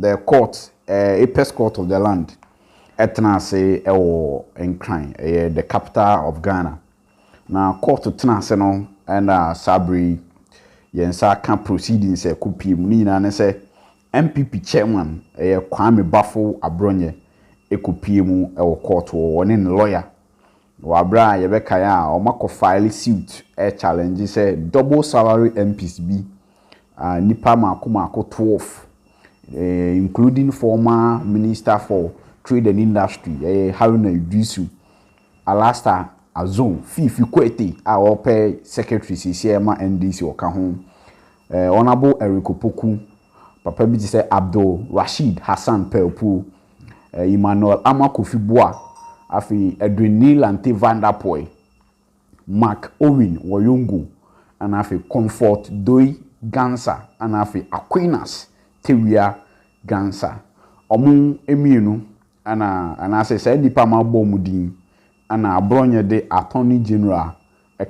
The court, ɛɛ, Apex Court of the land, ɛtena ase ɛwɔ Nkran, ɛyɛ the capital of Ghana. Na court tena ase no ɛna saa bere yi yɛn nsa aka proceedings a ɛkɔ pie mu. Ne nyinaa ne sɛ NPP chairman, ɛyɛ Kwame Bafo Abrɔnyɛ, ɛkɔ pie mu ɛwɔ court hɔ, ɔne ne lawyer Wɔ aberɛ a yɛbɛkae a wɔakɔ file suit rechallenge sɛ double salary MPs bi a nnipa mmaako mmaako twelve including former minister for trade and industry ɛyɛ Haruna Iddrisu, Alastair Azon, Fifi Kwete a ɔrepɛ secretary seesei ma NDC ɔka ho, Honourable Eric Opoku, papa bi te sɛ Abdul Rasheed Hassan Paopuo. Emmanuel Ama Kofi Boa, afei Edwin Nylante Van der Poel, Marc Owen Woyongo, ɛna afei Comfort Doi Gansa, ɛna afei Aquinas Tewia Gansa. Ɔmo mmienu ɛna, anaasɛ saa nnipa mabɔ ɔmo din, ɛna Aborɔnyɛ de Attorney General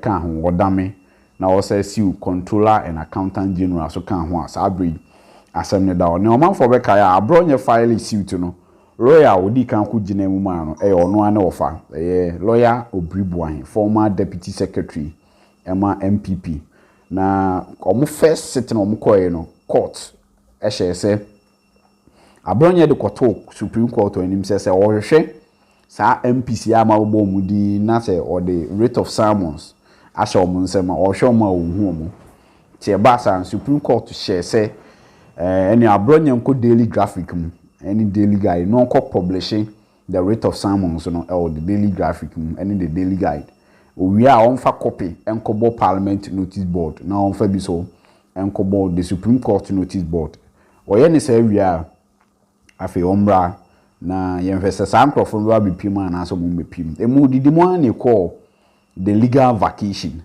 ka ho, wɔdame na wɔsan siw Controller and Accountant General nso ka ho a, saa bere yi asɛm no da hɔ. Nea ɔmanfo bɛkae a bere a ɔnyɛ filing suit no, lɔya a odii kan ko gyinaa mu maa no, ɛyɛ ɔno ara ne wɔfa. Ɛyɛ Lɔya Obiri Boahe, former Deputy Secretary ma NPP. Na wɔn first sitting a wɔkɔe no, Court hyɛe sɛ. Abrɔnyɛ de kɔtoo Supreme Court anim sɛ sɛ wɔhwehwɛ saa MPs yi a ama wɔbɔ wɔn din yi na sɛ wɔde writ of summons ahyɛ wɔn nsam a, wɔhwɛ wɔn a wɔnhu wɔn. Nti ɛbaa saa no, Supreme Court hyɛɛ sɛ ɛɛ ɛnneɛ Abrɔnyɛ nkɔ Daily Graphic mu ne Daily Guide na ɔnkɔ pɔblihye The Writ of Summons no wɔ The Daily Graphic mu ne The Daily Guide. Owie a, ɔmfa kɔpe nkɔbɔ Parliament Notice Board na ɔmfa bi nso nkɔbɔ The Supreme Court Notice Board. Ɔyɛ ne saa wie a, afei ɔmmra na yɛnhwɛ sɛ saa nkurɔfo no bɛba abɛpiem anaasɛ wɔmmɛpiem. Emu, didi mu ara na ɛkɔɔ The legal vacation,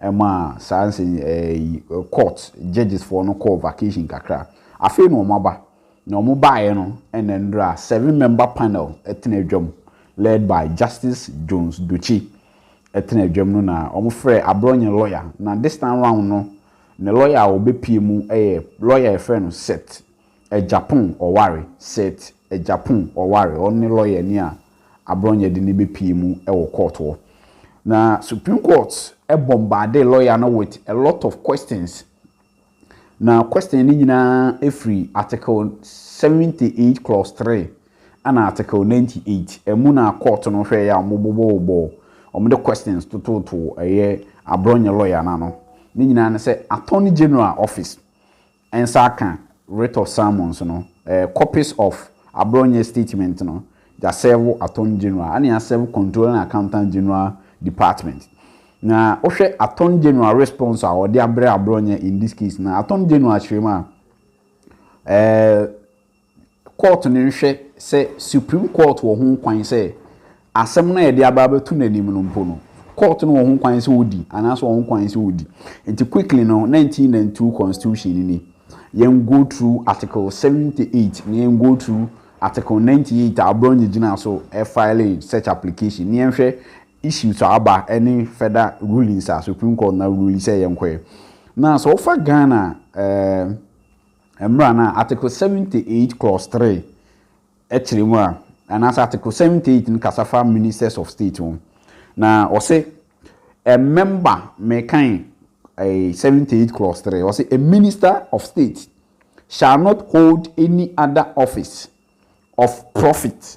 ɛmaa saa nsɛ ɛyi court judges foɔ no kɔɔ vacation kakra. Afei na wɔn aba, na wɔn baeɛ no ɛna nnora seven member panel ɛtena adwam led by Justice Jones Dotse ɛtena adwam no na wɔn frɛɛ Abrɔnye lawyer na this time round no ne lawyer a ɔbɛpie mu ɛyɛ lawyer yɛfrɛ no Seth Agyapong Ɔware Seth Agyapong Ɔware ɔno ne lawyer ni a Abrɔnyɛ de no bɛpue mu wɔ court hɔ. Na Supreme Court bombardee lawyer no with a lot of questions. Na question no nyinaa firi Article seventy eight clause three ɛna Article ninety eight ɛmu na court no hwɛeɛ a wɔbobɔbobɔɔ, wɔde questions totootoo ɛyɛ Abrɔnyɛ lawyer no ano. Ne nyinaa ne sɛ Attorney General office nsa akã Writ of Summons no, copies of Aborɔnyɛ Statement no, yɛasɛɛvo Attorney General, ana yɛasɛɛvo Controller and Accountant General Department. Na wohwɛ Attorney General response a ɔde abrɛ Aborɔnyɛ in this case no a, Attorney General kyerɛ mu a, eh, Kɔɔto no nhwɛ sɛ Supreme Court wɔ ho kwan sɛ asɛm no a yɛde aba abɛto n'anim no mpo no, kɔɔto no wɔ ho kwan sɛ odi anaasɛ ɔwɔ ho kwan sɛ odi. Nti quickly no, 1992 Constitution no ni, yɛn go through Article 78 na yɛn go through Article 98 a Abrɔnye gyinaa so filee such application na yɛnhwɛ issues a aba ne further rulings a Supreme Court no arule sɛ yɛnkɔɛ. Na sɛ wofa Ghana eh, Mmara no a Article seventy eight clause three kyerɛ mu a, anaasɛ Article seventy eight no kasa fa Ministers of State ho, na ɔse a member, mekan eh, seventy eight clause three, ɔse a Minister of State shall not hold any other office of profit.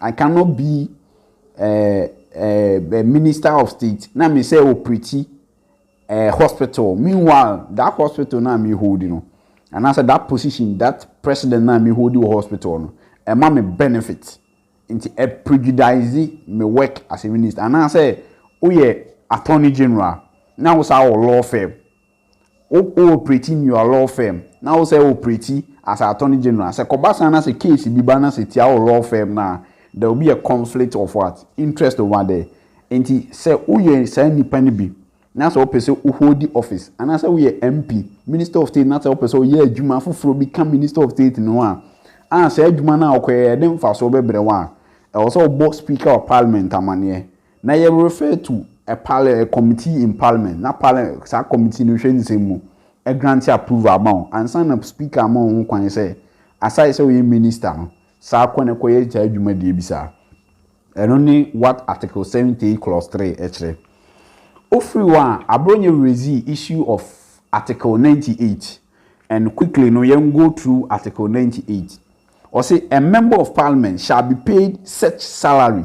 I cannot be eh eh minister of state na me sɛ operate eh hospital meanwhile that hospital na me hold no anaasɛ that position that president na me hold wɔ hospital no ɛma me benefit nti ɛ prejudice me work as a minister anaasɛ woyɛ attorney general na wo saa wɔ law firm Wo wo operate in your law firm na wo sɛ operate as a attorney general sɛ kɔba saa na sɛ case bi ba na sɛ tia wo law firm no a there will be a conflict of what? Interest over there. Nti sɛ wo yɛ saa nipa no bi na sɛ wo pɛ sɛ wo hold office anaa sɛ wo yɛ MP, minister of state na sɛ wo pɛ sɛ wo yɛ adwuma foforɔ bi ka minister of state no ho a a saa adwuma no a wo kɔ yɛ yɛde mfasoɔ bɛbrɛ wo a ɛwɔ sɛ wo bɔ speaker of parliament amaneɛ. Na yɛ refer to a parl a committee in parliament na parl saa committee no hwɛ nsɛm mu grant approval ama wo ansa na speaker ama wo ho kwan sɛ aside sɛ woyɛ minister no saa kɔ na kɔyɛ saa adwuma deɛ bi saa. Ɛno ne what article seventy clause three ɛkyerɛ. Wofiri hɔ a abro nyɛ raise issue of article ninety eight and quickly no yɛn go through article ninety eight. Ɔse a member of parliament shall be paid such salary.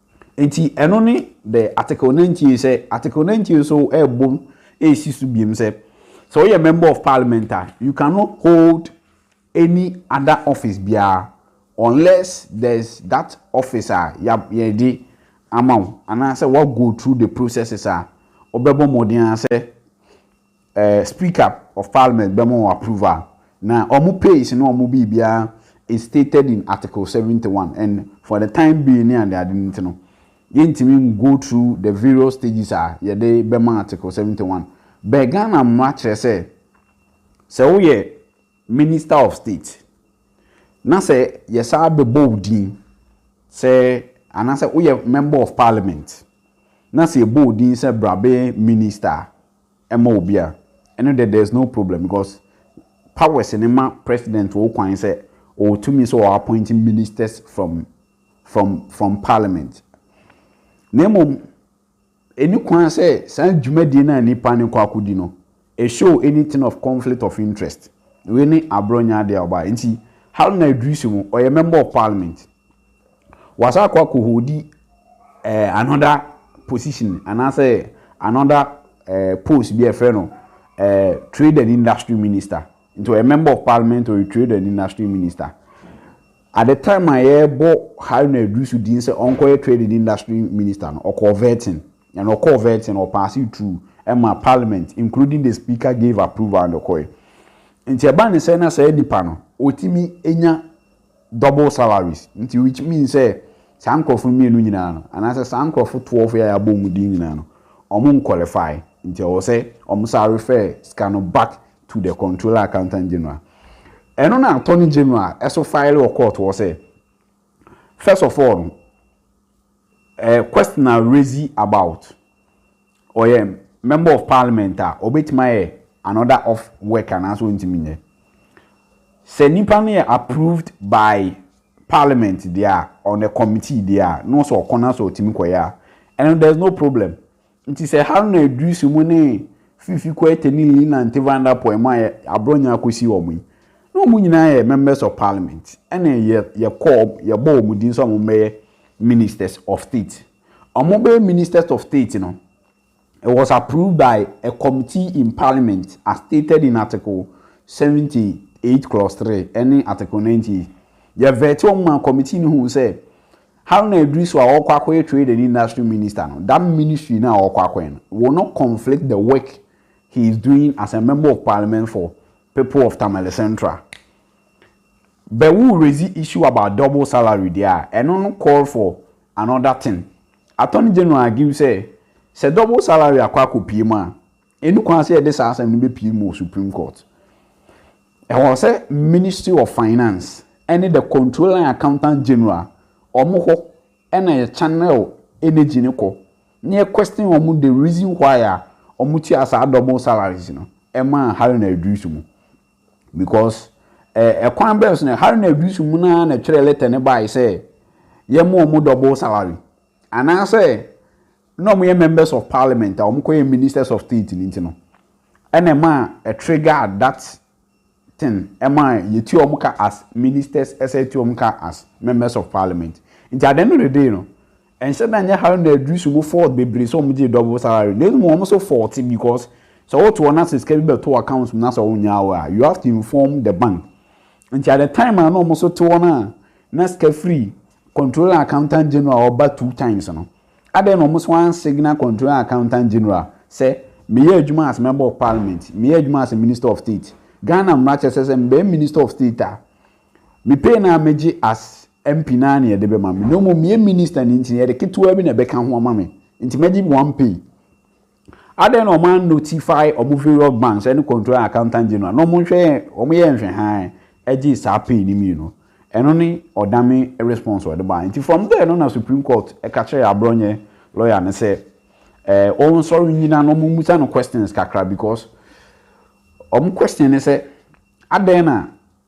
Enti ɛno ne the Article Nantie sɛ Article Nantie nso rebom resi so biom sɛ, sɛ woyɛ Member of Parliament a, you cannot hold any other office biara unless there's that office a yɛde ama wo anaasɛ woa go through the processes a wobɛbɔ mmɔden ara sɛ Eh speaker of parliament bɛma wɔn approval na wɔn pays ne wɔn biribiara is stated in article seventy one and for the time being ne ade ade nti no yɛntumi ngo through the various stages a yɛde bɛma article seventy one bɛ Ghana mmara kyerɛ sɛ sɛ woyɛ minister of state na sɛ yɛsaa bɛbɔ wo din sɛ anaasɛ woyɛ member of parliament na sɛ yɛbɔ wo din sɛ bra bɛyɛ minister a ma obi a ɛno deɛ there's no problem because powers no ma president wɔ kwan sɛ ɔwɔ tumi sɛ ɔ appoint ministers from from from parliament na mmom ɛni kwan sɛ saa dwumadie no a nipa no kɔ akɔdi no it show anything of conflict of interest wei ne aborɔ nyɛ adeɛ a ɔbaa nti Haruna Iddrisu mu ɔyɛ member of parliament. Wɔasan akɔ akɔholdi eh, another position anaasɛ another eh, post bi a ɛfrɛ no eh, Trade and Industry Minister. Nti ɔyɛ Member of Parliament, ɔyɛ Trade and Industry Minister. At the time a yɛrebɔ Haruna Iddrisu din sɛ ɔnkɔyɛ Trade and Industry Minister no, ɔkɔɔ vetting. And ɔkɔɔ vetting no, ɔpaase through ɛma Parliament, including the Speaker gave approval and ɔkɔe. Nti ɛba ne sɛ na saa nipa no, ɔtumi nya double salaries nti which means sɛ saa nkorɔfo mmienu nyinaa no anaasɛ saa nkorɔfo twelve yi a yɛabɔ wɔn din nyinaa no wɔn nqualify nti ɛwɔ sɛ wɔn san refer sika no back to the controller accountant general ɛno na attorney general ɛso file wɔ court hɔ sɛ first of all no Eh question a resi about ɔyɛ member of parliament a ɔbɛtumi ayɛ another off work anaasɛ ɔntumi nyɛ sɛ nipa no yɛ approved by parliament deɛ a on a committee deɛ a na ɔsɛ ɔkɔ na sɛ ɔtumi kɔyɛ a ɛno there is no problem Nti sɛ Haruna Iddrisu mo ne Fifi Koete ne Lina Nte Van Der Poel mo a aborɔ nya akɔsi wɔn yi, na wɔn nyinaa yɛ Members of Parliament ɛne yɛkɔɔ yɛbɔɔ wɔn din sɛ wɔmmɛyɛ Ministers of State. Wɔn bɛyɛ Ministers of State no, it was approved by a committee in Parliament as stated in Article 78 clause 3 ɛne Article 98. Yɛvɛɛte wɔn maa committee no huu sɛ Haruna Iddrisu a ɔrekɔ akɔyɛ Trade and Industry Minister no, that ministry no a ɔrekɔ akɔyɛ no will not conflict the work he is doing as a Member of Parliament for people of Tamale Central. But wo raise issue about double salary deɛ a, ɛno no call for another thing. Attorney General argue sɛ, sɛ double salary akɔ akɔpue mu a, Enni kwan sɛ yɛde saa asɛm no bepue mu wɔ Supreme Court. Ɛwɔ sɛ Ministry of Finance ne the Controller and Accountant General, wɔn hɔ na yɛ channel energy no kɔ na yɛ question wɔn the reason why a wɔtua saa double salaries no maa Haruna Iddrisu mu. Because eh, kwan bɛn so na Haruna Iddrisu mu no ara na ɛtwerɛ letter no bae sɛ yɛma wɔn double salary anaasɛ na wɔyɛ members of parliament a wɔkɔyɛ ministers of state no nti no ɛna ɛmaa ɛtrigger that thing ɛmaa yɛtua wɔn ka as ministers ɛsɛ yɛtua wɔn ka as members of parliament nti at the end of the day no ɛnhyɛ da nyɛ Haruna Idrisu mu fault bebree sɛ wɔn gye double salary na emu wɔn so fault because sɛ wɔto wɔn ase sika bi bɛto account mu na sɛ wɔn nyaa wɔ a you have to inform the bank nti at the time a na wɔn so te wɔn a na sika free controlling accountant general ɔba two times no. Adɛn na wɔn so ansigna Controller Accountant General sɛ meyɛ adwuma as Member of Parliament, meyɛ adwuma as Minister of State? Ghana mmara kyerɛ sɛ sɛ mebɛyɛ Minister of State a, me pay no a megye as MP no ara na yɛde bɛma me. Na mmom meyɛ Minister no nti no, yɛde ketewaa bi na ɛbɛka ho ama me. Nti mɛgye one pay. Adɛn na wɔan notify wɔn various banks ɛne control and accountant general na wɔn nhwɛ yɛ wɔn yɛ nhwɛ hann ɛgye saa pay no mmienu ɛno ne ɔdame response ɔde baeɛ nti from there no na supreme court ɛka kyerɛɛ abrɔnyɛ lawyer no sɛ ɛɛ wɔn nsɔre nnyina na wɔn mmusa no questions kakra because wɔn question ne sɛ adɛn na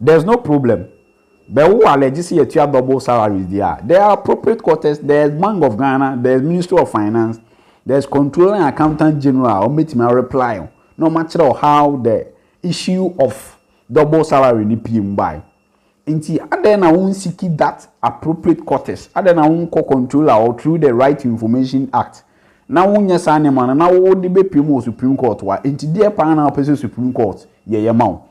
There's no problem bɛ wo alɛ gye sɛ yɛtua double salaries deɛ a there are appropriate quarters there's bank of Ghana there's ministry of finance there's controller and accountant general a wɔbɛtumi a reply wo na wɔn akyerɛ wo how the issue of double salary no pie mu bae nti adɛn na wo nsiki that appropriate quarters adɛn na wo nkɔ controller or through the right to information act na wo nyɛ saa nneɛma no na wo de bɛpie mu wɔ supreme court wa nti deɛ paa na wopɛ sɛ supreme court yɛ yɛ ma wo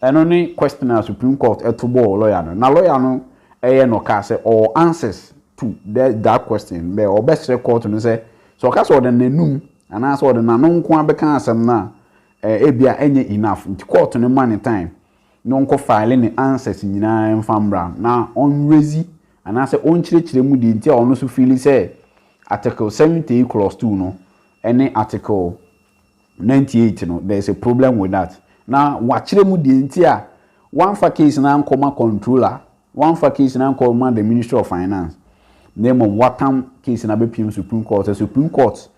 Ɛno ne question a supreme court to bɔɔ lawyer no na lawyer no yɛ no kaa sɛ ɔwɔ answers to that question bɛ ɔbɛsrɛ court no sɛ sɛ ɔka sɛ ɔde n'anum anaa sɛ ɔde n'ano nkoa bɛka asɛm no a ebia ɛnyɛ enough nti court no ma ne time na ɔnkɔ file ne answers nyinaa mfa mmra na ɔnrezi anaa sɛ ɔnkyerɛkyerɛ mu deɛ nti a ɔno so feeli sɛ article 70 clause 2 no ne article Ninety eight no there is a problem with that na wakyerɛ mu deɛ nti a wamfa case no ankɔ ma controller wamfa case no ankɔ ma the ministry of finance na mmom watam case no abɛpiem supreme court sɛ supreme court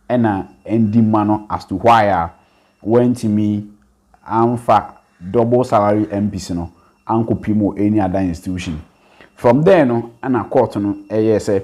ɛna ɛndi ma no as to why a wantumi amfa double salary MPs no ankɔpiem wɔ any other institution from there no ɛna court no ɛyɛɛ sɛ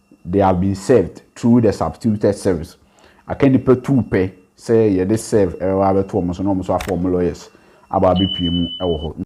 They have been served through the substituted service, aka nnipa tuu pɛ sɛ yɛde serve bɛba abɛto wɔn so na wɔn nso afa wɔn lawyers aba abɛpue mu wɔ hɔ.